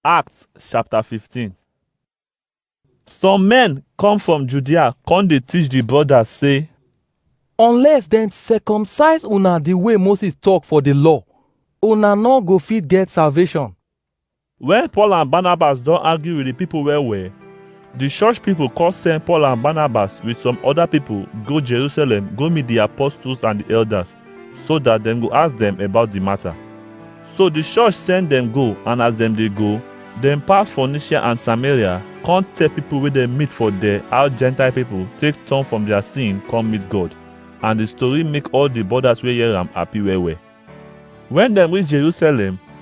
Acts chapter 15. Some men come from Judea, come dey teach the brothers, say, unless dem circumcise una the way moses talk for the law una no go fit get salvation When Paul and Barnabas don argue with the people well well, the church people come send Paul and Barnabas with some other people go Jerusalem go meet the apostles and the elders. so that dem go ask dem about the matter. So the church send dem go and as dem dey go, dem pass Phoenicia and Samaria come tell people wey dem meet for there how Gentile people take turn from their sin come meet God. And the story make all the borders wey hear am happy well well. When dem reach Jerusalem,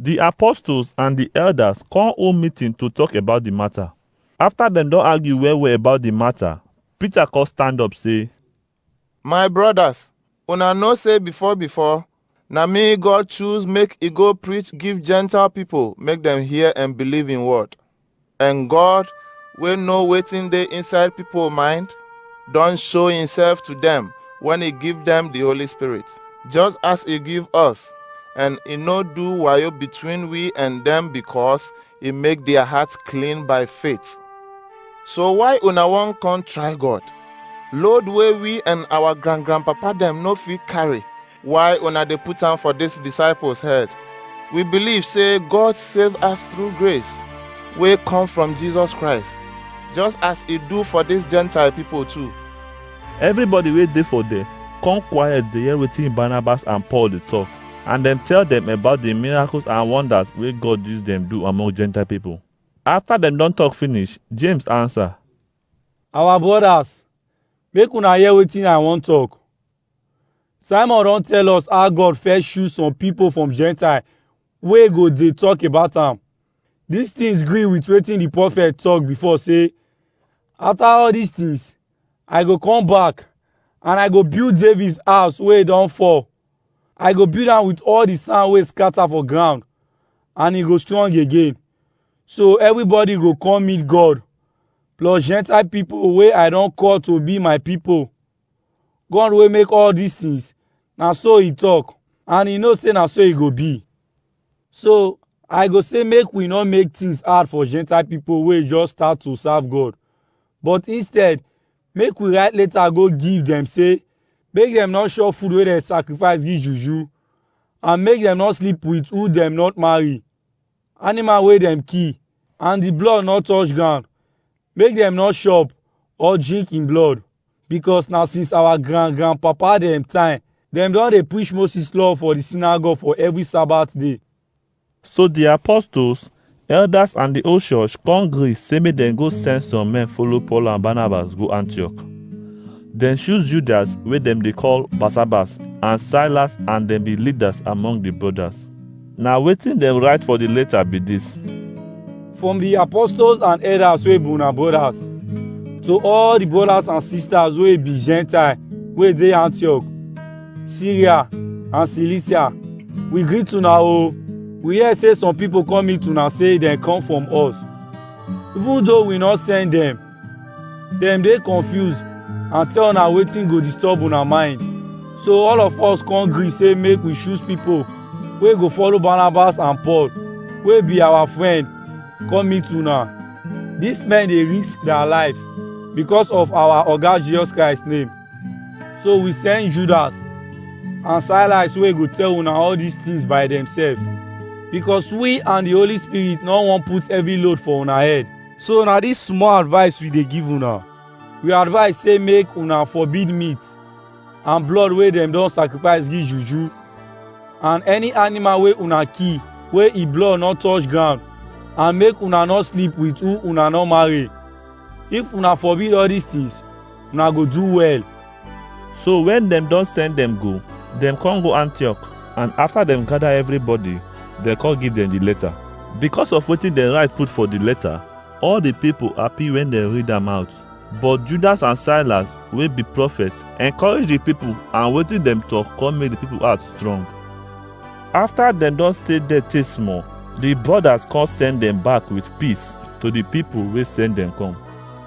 Di apostles and di elders kon hold meeting to tok about di mata. Afta dem don argue well-well about di mata, Peter kon stand up sey, My brodas, una know sey before-before, na mi God choose make I go preach give Gentile pipol make dem hear en believe in word. And God, wey know wetin dey inside people mind, don show himself to them when he give them the Holy Spirit, just as he give us. And he no do wayo between we and them because he make their hearts clean by faith. So why una wan come try God? Load wey we and our grand grandpapa dem no fit carry, Why una dey put am for dis disciples head? We believe say God save us through grace wey come from Jesus Christ, just as e do for dis Gentile people too. Everybody wey dey for there come quiet dey hear wetin Barnabas and Paul dey talk, and dem tell dem about the miracles and wonders wey God use dem do among Gentile people. After dem don talk finish, James answer, Our brothers, make una hear wetin I wan talk. Simon don tell us how God first choose some people from Gentile wey go dey talk about am. These things gree with wetin the prophet talk before say, After all these things, I go come back and I go build David's house wey e don fall. I go build am with all the sand wey scatter for ground and e go strong again. So everybody go come meet God, plus Gentile people wey I don call to be my people. God wey make all dis things, na so he talk and he know say na so e go be. So, I go say make we no make things hard for Gentile people wey just start to serve God. But instead, make we write letter go give dem say make dem no chop food wey dem sacrifice give juju and make dem no sleep with who dem not marry. animal wey dem kill and the blood no touch ground make dem no chop or drink him blood because na since our grand grand papa dem time dem don dey preach Moses law for the synagogue for every Sabbath day. So the apostles, elders, and the whole church come gree say make dem go send some men follow Paul and Barnabas go Antioch. Dem choose Judas wey dem dey call Barsabbas and Silas and dem be leaders among the brothers. Na wetin dem write for the letter be this. from the apostles and elders wey be una brothers to all the brothers and sisters wey be gentile wey dey antioch syria and cilicia we greet una o we hear say some people come meet una say dem come from us even though we no send dem dem dey confused and tell una wetin go disturb una mind so all of us come gree say make we choose people wey go follow barnabas and paul wey be our friend come meet una these men dey risk their life because of our oga jesus christ name so we send judas and silas wey go tell una all these things by themselves because we and the holy spirit no wan put heavy load for una head So na this small advice we dey give una. We advise say make una forbid meat and blood wey dem don sacrifice give juju and any animal wey una kill wey e blood no touch ground and make una no sleep with who una no marry. If una forbid all these things, una go do well. So when dem don send dem go, dem come go Antioch and after dem gather everybody, dem come give dem the letter. Because of wetin dem write put for the letter, all the people happy when dem read am out. But Judas and Silas wey be prophet encourage the people and wetin dem talk come make the people heart strong. After dem don stay there tey small, the brothers come send dem back with peace to the people wey send dem come.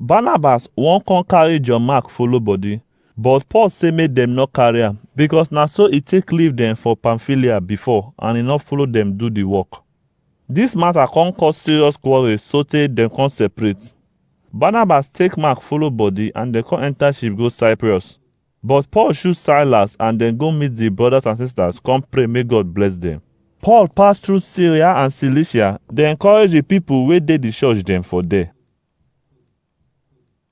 Barnabas wan come carry John Mark follow body, but Paul say make dem no carry am because na so e take leave dem for Pamphylia before and e no follow dem do the work. This matter come cause serious quarrel sotey dem come separate. Barnabas take Mark follow body and dem come enter ship go Cyprus. But Paul shoot Silas and dem go meet di brothers and sisters come pray make God bless dem. Paul pass through Syria and Cilicia, dey encourage di pipo wey dey di church dem for there.